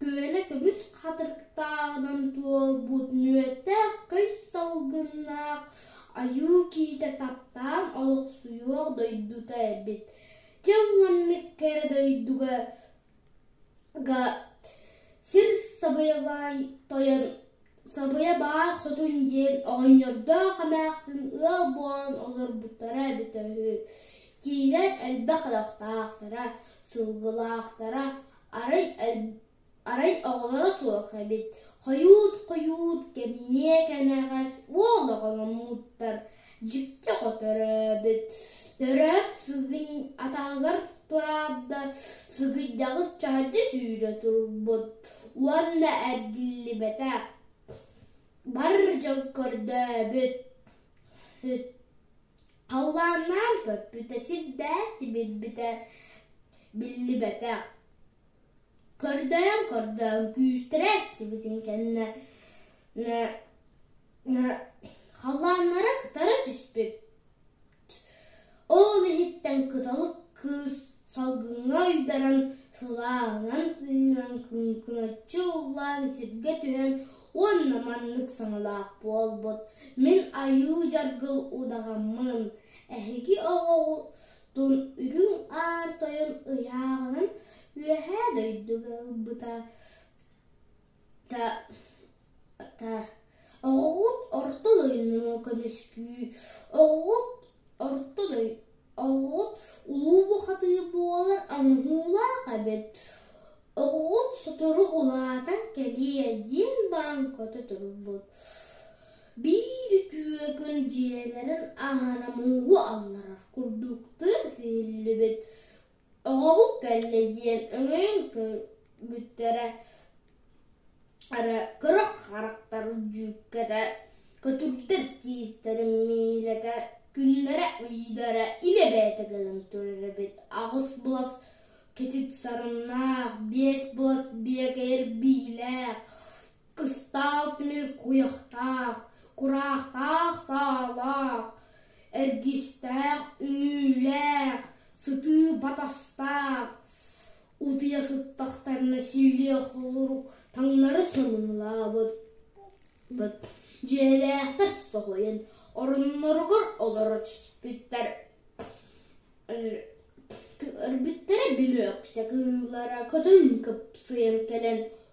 Күөлэ көмүс хатырыктааҕынан туолбут мүөттээх көс салгыннаах айыы киитэ таптаан олохсуйуох дойдута эбит. Дьыл маннык кэрэ дойдуга сир сабыйабай тойон сабыйа баар хотун диэн оҕонньордоох эмээхсин ыал буолан олорбуттара эбитэ үһү. Киилэр элбэх ынахтаахтара, сылгылаахтара, Арай оҕолоро суох эбит, хойуут-хойуут кэмниэ кэнэҕэс уол оҕоломмуттар дьикти хоторөөбүт, төрөөт сылын атаҕыгар тураата сыгыйдаҕыт чаһырдьа сүүрэ турбут уонна эргиллибэтэ, бар дьон көрдөөбүт Халлааннаан көппүтэ сирдээх тибирбитэ биллибэтэх көрдөөн-көрдөөн күүстэрэ эстибитин кэннэ халлааннара кытара түспүт ол иһиттэн кыталык кыыс Салгыҥҥа ойдаран, сылаанан тыынан, куҥкуначчы уулаан сиргэ түһэн уонна маннык саҥалаах буолбут: «Мин Айыы Дьаргыл удаҕаммын, эһиги оҕоҕутун үрүҥ аар тойон ыйааҕынан үөһээ дойдуга ылбыта» та та оҕоҕут ортон ойуннуруҥ көмүскүү оҕоҕут ортон ой оҕоҕут улуу бухатыы буолар амуһуулаах эбит оҕоҕут сотору улаатан кэлиэ диэн баран көтө турбут биир үтүөкүн дьиэлэрин аана мууһу алларар курдуктуу сиһиллибит Оҕобут кэллэ диэн өҥөйөн көрбүттэрэ эрэ кыра харахтар дьүүккэтэ көтүрдэр тиистэрэ миилэтэ күннэрэ-ыйдара илэ-бэйэтэ кэлэн турар эбит аҕыс былас кэтит сарыннаах биэс былас биэкээр биилээх Кыстаал тимир куйахтаах, кураахтаах саалаах, эргистээх үнүүлээх, сытыы батастаах, утуйа сыттахтарына силлиэ холорук таҥнары сонунулаабыт дьиэлээхтэр соһуйан оронноругар олоро түспүттэрэ билиэксэ кыыллара көтөн кыпсыйан кэлэн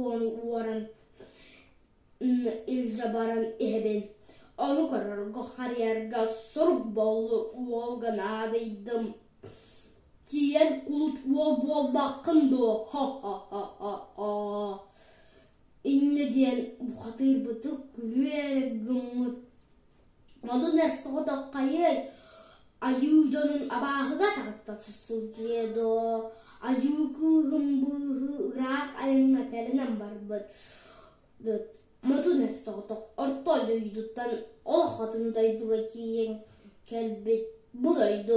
уолу уоран илдьэ баран иһэбин ону көрөргө харыйарга сурук буолла уолга наадыйдым тиийэн кулут уол буолбаккын дуо ха-ха-ха-ха инньэ диэн бухатыырбытык күлүү эрэ гыммыт Онон эс-соҕотоххайыай, айыы дьонун абааһыга таҕыста сылдьыа дуо, айыы кыыһым быыһыы ыраах айаҥҥа тэлэнэн барбыт Мотун эс-соҕотох орто дойдуттан олох атын дойдуга тиийэн кэлбит бу дойду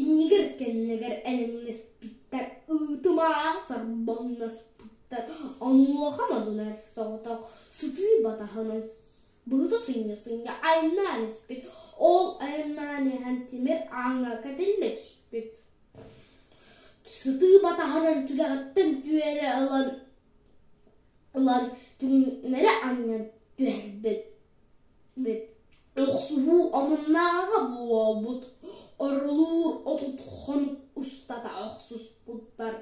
Иннигэр кэннигэр элэҥнэспиттэр, ытымаах сорбоҥноспуттар, онуоха модунар соҕотох сытыы батаһынан быһыта сынньа-сынньа айаннаан испит, ол айаннаан иһэн тимир ааҥҥа кэтиллэ түспүт. Сытыы батаһынан түгэҕиттэн түөрэ ылан ылан түҥнэри анньан түһэрбит Охсуһуу омуннааҕыга буолбут орулуур отут хонук устата охсуспуттар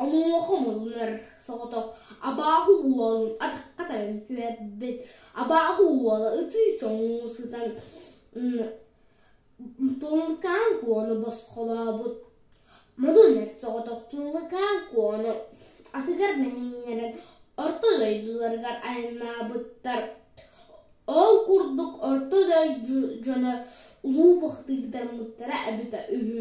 онуоха муннар соҕотох абааһы уолун атахха таран түһэрбит абааһы уола ытыы соҥуу сытан Тулукаан Куону босхолообут. Модуннар соҕотох Тулукаан Куону атыгар мэһииннэрэн орто дойдуларыгар айаннаабыттар. Ол курдук орто дойду дьоно улуу бахтыгытармыттара эбитэ үһү